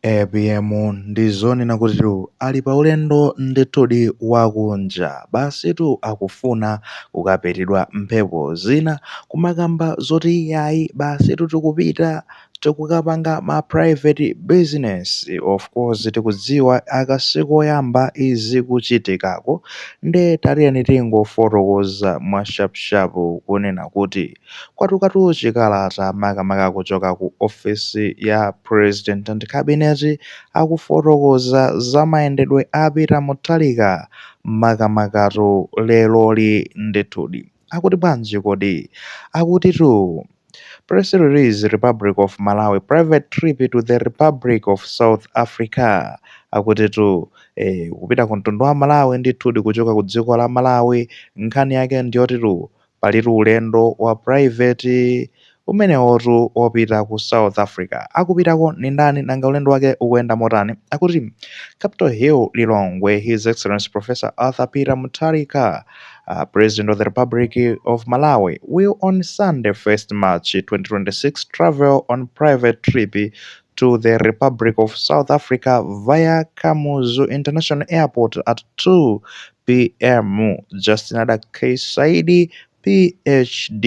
APM ndizonena kuti ali paulendo ndithudi wakunja basitu akufuna kukapitidwa mphepo zina kumakamba zoti iyayi basitu tikupita tikukapanga ma private business of course tikudziwa aka sikoyamba izi kuchitikako nde tatiyeni tingofotokoza mwa sharp sharp kunena kuti Kwatukatu chikalata makamaka kuchoka ku ofisi ya President and Cabinet akufotokoza za mayendedwe a Peter Mutharika makamakatu leroli ndithudi. Akuti bwanji kodi? Akutitu Press release Republic of Malawi private trip to the Republic of South Africa akutitu eh, kupita ku mtundu wa Malawi ndithudi kuchoka ku dziko la Malawi nkhani yake ndiyotitu Palitu ulendo wa private umenewotu wopita ku South Africa. Akupitako ndi ndani? Nanga ulendo wake ukuyenda motani? Akuti Capital Hill, Lilongwe, His Excellency Professor Arthur Peter Mutharika, uh, President of the Republic of Malawi, will on Sunday 1st March 2026 travel on private trip to the Republic of South Africa via Kamuzu International Airport at 2 p.m. Justin Adack Saidi, PhD,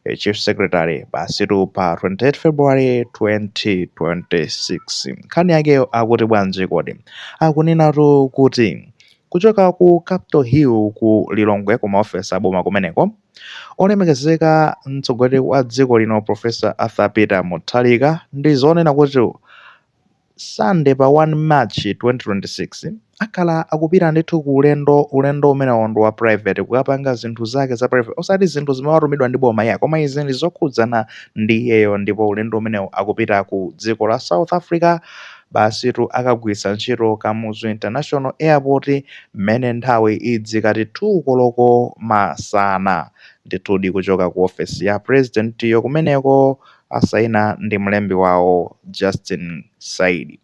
eh, Chief Secretary basitu pa 28 February 2026. Nkhani yakeyo akuti bwanji kodi akunenatu kuti kuchoka ku Capital Hill ku Lilongwe ku maofesi aboma kumeneko Olemekezeka mtsogoleri wa dziko lino Professor Arthur Peter Mutharika ndi zonena kuti Sunday pa 1 March 2026 akhala akupita ndithu ku ulendo ulendo umenewo ndi wa private kukapanga zinthu zake za private osati zinthu zimene watumidwa ndi boma iyayi koma izi ndi zokhudzana ndi iyeyo ndipo ulendo umenewo akupita ku dziko la South Africa basitu akagwiritsa ntchito Kamuzu International Airport mmene nthawi idzikati 2 koloko masana. Ndithudi kuchoka ku ofesi ya pulezidentiyo kumeneko, asaina ndi mlembi wawo Justin Saidi.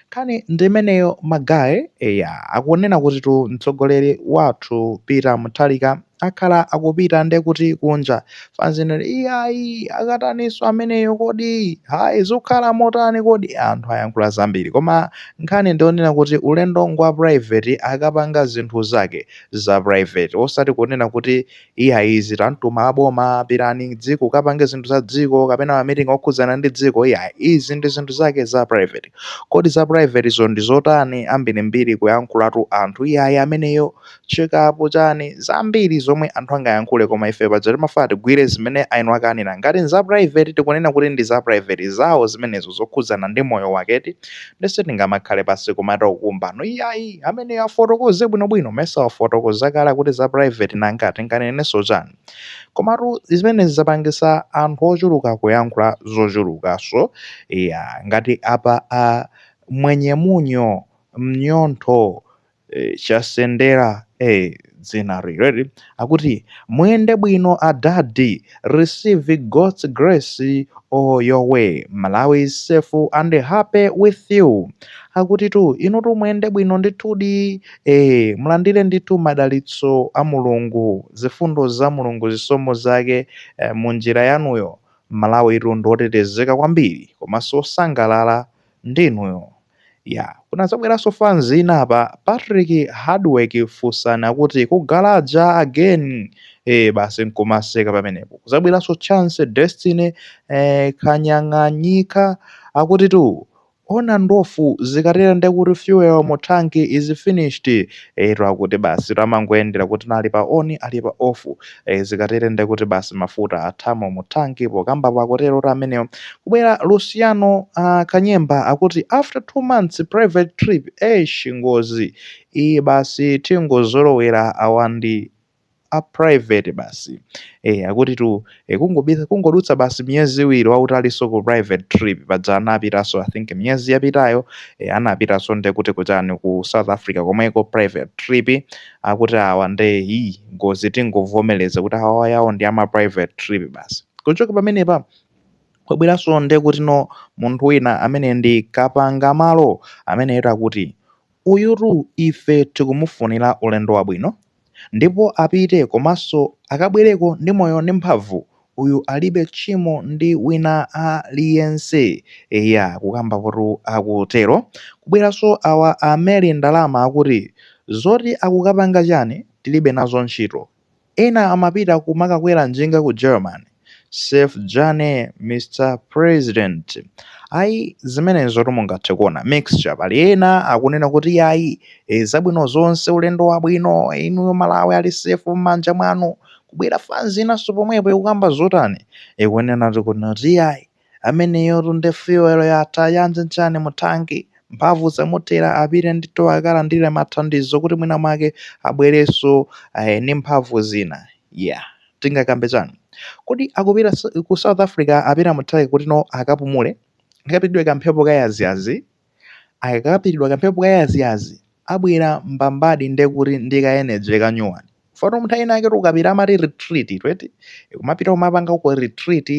Nkhani ndi imeneyo ma guy, eya akunena kutitu mtsogoleri wathu Peter Mutharika akhala akupita nde kuti kunja fanzi nde iyayi akataniso ameneyo kodi hayi zukhala motani kodi anthu ayankhula zambiri koma nkhani ndionena kuti ulendo ngwa private akapanga zinthu zake za private osati kunena kuti iyayi izi tamtuma aboma pirani dziko kapange zinthu za dziko kapena ma meeting okhudzana ndi dziko iyayi izi ndi zinthu zake za private kodi za private zo ndi zotani ambirimbiri kuyankhulatu anthu iyayi ameneyo Chikapu chani? Zambiri zomwe anthu angayankhule koma ife paja timafuna tigwire zimene aeni wake anena. Ngati nza private tikunena kuti ndi za private zawo zimenezo zokhudzana ndi moyo wake eti? Nde sitingamakhale pansi kumata kukumbano iyayi. Ameneyo afotokoze bwinobwino. Mesa wafotokoza kale akuti za private nanga tinganenenso chani? Komatu zimenezi zapangitsa anthu ochuluka kuyankhula zochulukanso. Eya ngati apa a Mwenye munyo, mnyontho, Eh, chasendera eh, dzina rireri akuti muyende bwino adadi receive god's grace all your way malawi is safe and happy with you akutitu inutu muyende bwino ndithudi eh, mulandire ndithu madalitso a mulungu zifundo za mulungu zisomo zake eh, mu njira yanuyo Malawitu ndi otetezeka kwambiri komanso osangalala Ndi inuyo. Yeah. Kunadzabweranso fans ina apa, Patrick Hardwork funsani akuti ku galaja again? Eeh basi nkumaseka pamenepo. Kudzabweranso Chance Destiny eeh Kanyang'anyika akutitu Ona ndofu zikatere ndekuti fuel mu tank is finished. Eyetu akuti basitu amangoyendera kuti ali pa on ali pa off. e zikatere nde kuti basi mafuta athamo mu thanki kukambapo akutero kuti ameneyo kubwera luciano uh, kanyemba akuti after two months private trip esh ngozi iyi basi tingozolowera awa ndi a private basi e akutitu e, kungobisa kungodutsa basi miyezi iwiri akuti alinso ku private trip paja anapitanso i think miyezi yapitayo e, anapitanso nde kuti kuchani ku south africa komweko private trip akuti awa nde hii ngozi tingovomereza kuti awawa yawo ndi ama private trip basi kuchoka pamenepa kwabweranso nde kutino munthu wina amene ndi Kapangamalo amene eyetu akuti uyutu ife tikumufunira ulendo wabwino ndipo apite komanso akabwereko ndi moyo ndi mphamvu Uyu alibe tchimo ndi wina aliyense. Eya, kukambapotu akutero. Kubweranso awa a Mary Ndalama akuti, Zoti akukapanga chani tilibe nazo ntchito. Ena amapita kumakakwera njinga ku German. Safe journey Mr President. Ayi, zimenezotu mungathe kuona mixture. Pali ena akunena kuti iyayi, ee, zabwino zonse, ulendo wabwino, inuyo Malawi ali safe mmanja mwanu. kubwera fanzi inanso pomwepo ikukamba zotani? Ikunenatu kuti iyayi, ameneyotu nde fuel yatha, ya njanjani mu tank? Mphamvu zamuthera, apite ndithu akalandire mathandizo kuti mwina mwake abwerenso ndi mphamvu zina. Yeah, tingakambe chani? Kodi akupita ku South Africa apita mu nthawi kutino akapumule? Akapitidwe kamphepo kayaziyazi? akakapitidwa kamphepo kayaziyazi abwera mbambadi ndekuti ndi ka energy kanyuwani fano munthu ena ake tikapita amati retreat eti umapita umapanga ko retreat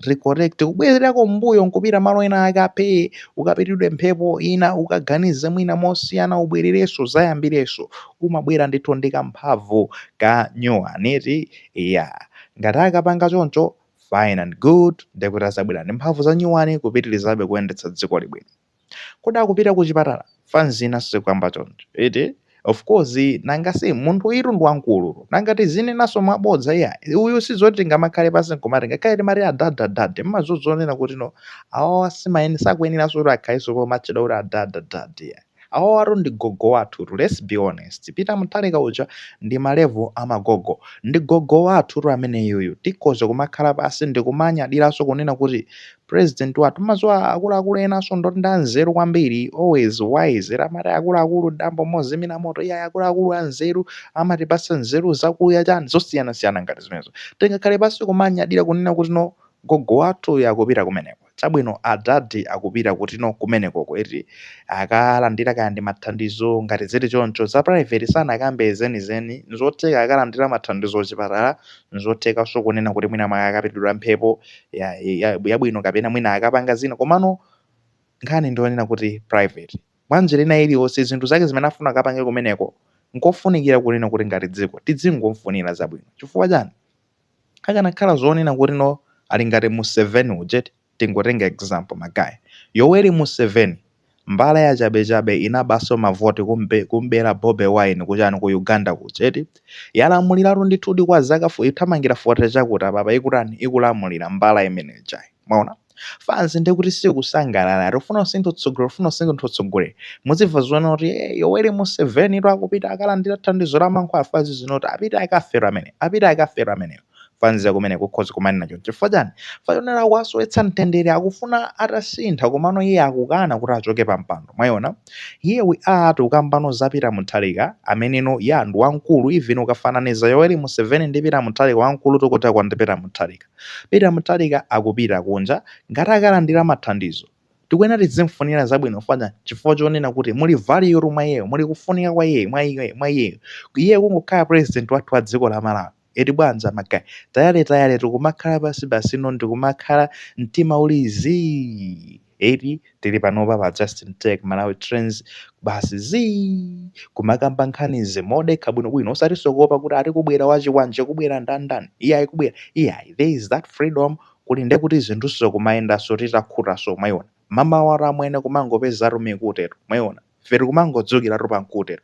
recollect kubwererako mbuyo nkupita malo ena ake aphee ukapitidwe mphepo ina ukaganize mwina mosiyana ubwererenso uzayambirenso umabwera ndithu ndi kamphamvu kanyuwani eti iya ngati akapanga choncho Fine and good, ndekuti azabwera ndi mphamvu za nyuwani kupitilizabe kuyendetsa dzikoli bwino. Kodi akupita ku chipatala? Fans ina sikukamba choncho, eti? Of course, nanga si munthuyutu ndi wamkulu. Nanga tizinenanso mwabodza iyayi? Uyu sizoti tingamakhale pansi nkumati ngakhale timati adad adad mmaziwa zoonena kuti no awawa simayenera sakuyeneranso kuti akhalenso pomatchedwa kuti adad adad iyayi. Awawatu ndi gogo wathutu let's be honest Peter Mutharika uja ndi ma level a magogo. Ndi gogo wathutu ameneyuyu tikhoza kumakhala pansi ndikumanyadiranso kunena kuti president wathu mumaziwa akuluakulu enanso ndoti ndi anzeru kwambiri always wise eti amati akuluakulu dambo mozimira moto iyayi akuluakulu anzeru amatipatsa nzeru zakuya chani zosiyanasiyana ngati zimenezo tingakhale pansi kumanyadira kunena kuti no gogo wathu uyu akupita kumeneko. Chabwino, adadi akupita kuti no kumeneko, eti, akalandira kaya ndi mathandizo. Ngati zili choncho, za private sanakambe zenizeni. Nzotheka akalandira mathandizo kuchipatala, nzothekanso kunena kuti mwina mwake akapitidwa mphepo yabwino kapena mwina akapanga zina. Komano nkhani ndi yonena kuti private. Mwa njira ina iliyonse, zinthu zake zimene afuna akapange kumeneko, nkofunikira kunena kuti ngati dziko tidzingomfunira zabwino. Chifukwa chani? akanakhala zonena kuti no ali ngati museveni uja eti tingotenga example magaye yoweri museveni mbala yachabechabe inabanso mavoti kumbera bobi wine kuchani ku uganda kuja eti yalamuliratu ndithudi kwa zaka fo ikuthamangira 40 chakuti apapa ikutani ikulamulira mbala imene ijayo mwaona Fans ndikuti sikusangalala, tikufuna kusintha utsogolero, tikufuna kusintha utsogolero. Muzimva zowona kuti eh, Yoweri Musevenitu akupita akalandira thandizo la mankhwala fans izinoti apite akafere amene, apite akafere ameneyo. Fans ya kumeneko ikhoza kumanena choncho. Chifukwa chani? Chifukwa chonena akuwasowetsa mtendere, akufuna atasintha komano iye akukana kuti achoke pa mpando. Mwaona? Here we are tikukambano za Peter Mutharika ameneno ya ndi wamkulu even ukafananiza Yoweri Museveni ndi Peter Mutharika wamkulu tikutha kwa ndi Peter Mutharika. Peter Mutharika akupita kunja ngati akalandira mathandizo tikuyenera tidzimfunira zabwino chifukwa chifukwa chonena kuti muli valuetu mwa iyeyo muli kufunika kwa iyeyo mwa iyeyo mwa iyeyo iye kungokhala president wathu wa dziko la Malawi eti bwanja magaye tayale tayale tikumakhala pansipansino ndikumakhala mtima uli zii Eti tili panopa pa Justin Tech Malawi Trends basi zii kumakamba nkhani zimodekha bwinobwino osatinso kuopa kuti ati kubwera wachikwanje kubwera ndandani iyayi kubwera iyayi there is that freedom kuti nde kuti zinthunso kumayendanso titakhutanso mwaiona mmawatu amwene kumangopezatu mikutetu mwaiona Ife tikumangodzukiratu pa mkute.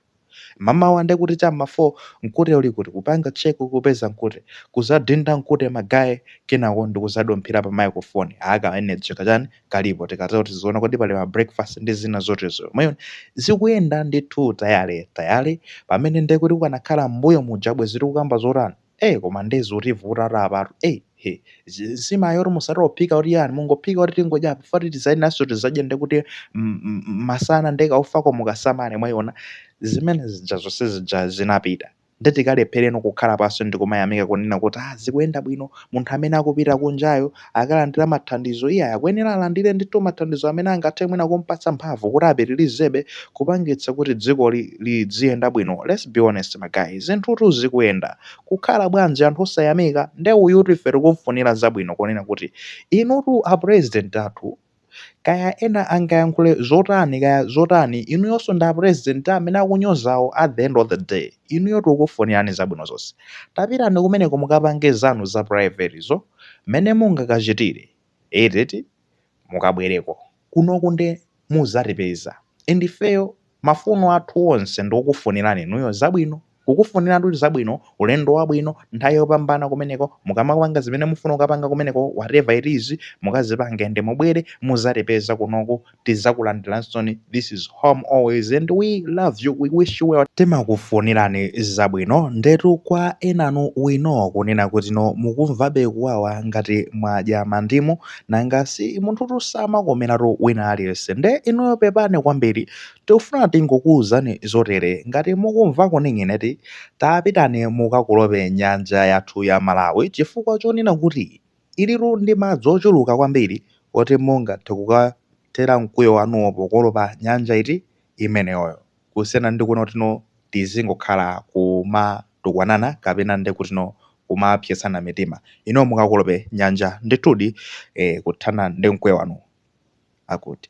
Mamawa nde kuti cha mma 4 mkute uli kuti? Kupanga check kupeza mkute. Kuzadinda mkute ma guy kenako ndikuzadumphira pa microphone. Aaa ka energy kachani kalipo. Tikatero tiziona kodi pali ma breakfast ndi zina zotezo. Mwaiona? Zikuyenda ndithu tayale tayale. Pamene nde kuti ukanakhala mmbuyo muja bwezi tikukamba zotani? Eee koma nde zitivutatu apatu eyi he zi- nsima yoti musati ophika kuti chani mungophika kuti tingodya apa fati tizaonanso tizadya nde kuti m- m- m- masana nde kaufako mukasamale mwaiona zimene zija zonse zija zinapita nde tikalephereno kukhala pansi ndikumayamika kunena kuti ah zikuyenda bwino munthu amene akupita kunjayo akalandira mathandizo iyayi akuyenera alandire ndithu mathandizo amene angathe mwina kumpatsa mphamvu kuti apitilizebe kupangitsa kuti dziko lidziyenda bwino let's be honest ma guy zinthutu zikuyenda kukhala bwanji anthu osayamika nde uyutu ife tikumfunira zabwino kunena kuti inutu a president athu kaya ena angayankhule zotani kaya zotani inuyonso ndi apresident amene akunyozawo at the end of the day inuyo tikukufunirani zabwino zonse tapitani kumeneko mukapange zanu za private zo mmene mungakachitire eti mukabwereko kunoku nde muzatipeza and ifeyo Mafuno athu onse ndikukufunirani inuyo zabwino. Kukufuniratu zabwino, ulendo wabwino, nthawi yopambana kumeneko, mukamapanga zimene mufuna kukapanga kumeneko whatever it is, mukazipange and mubwere muzatipeza kunoku, tizakulandiransoni, this is home always and we love you, we wish you well. Timakufunirani zabwino, ndetu kwa enanu we know kunena kuti no mukumvabe kuwawa ngati mwadya mandimu, nanga si munthutu samakomeratu wina aliyense nde inuyo pepani kwambiri tikufuna tingokuuzani zotere ngati mukumva kuning'ina eti tapitani mukakolope nyanja yathu ya malawi chifukwa chonena kuti ilitu ndi madzi ochuluka kwambiri oti mungathe kukathera mkwiyo wanuwo pokolopa nyanja eti imeneyoyo kusiyana ndi kunena kuti no tizingokhala kumatukwanana kapena ndi kuti no kumapsetsana mitima inu mukakolope nyanja ndithudi eh, kuthana ndi mkwiyo wanu akuti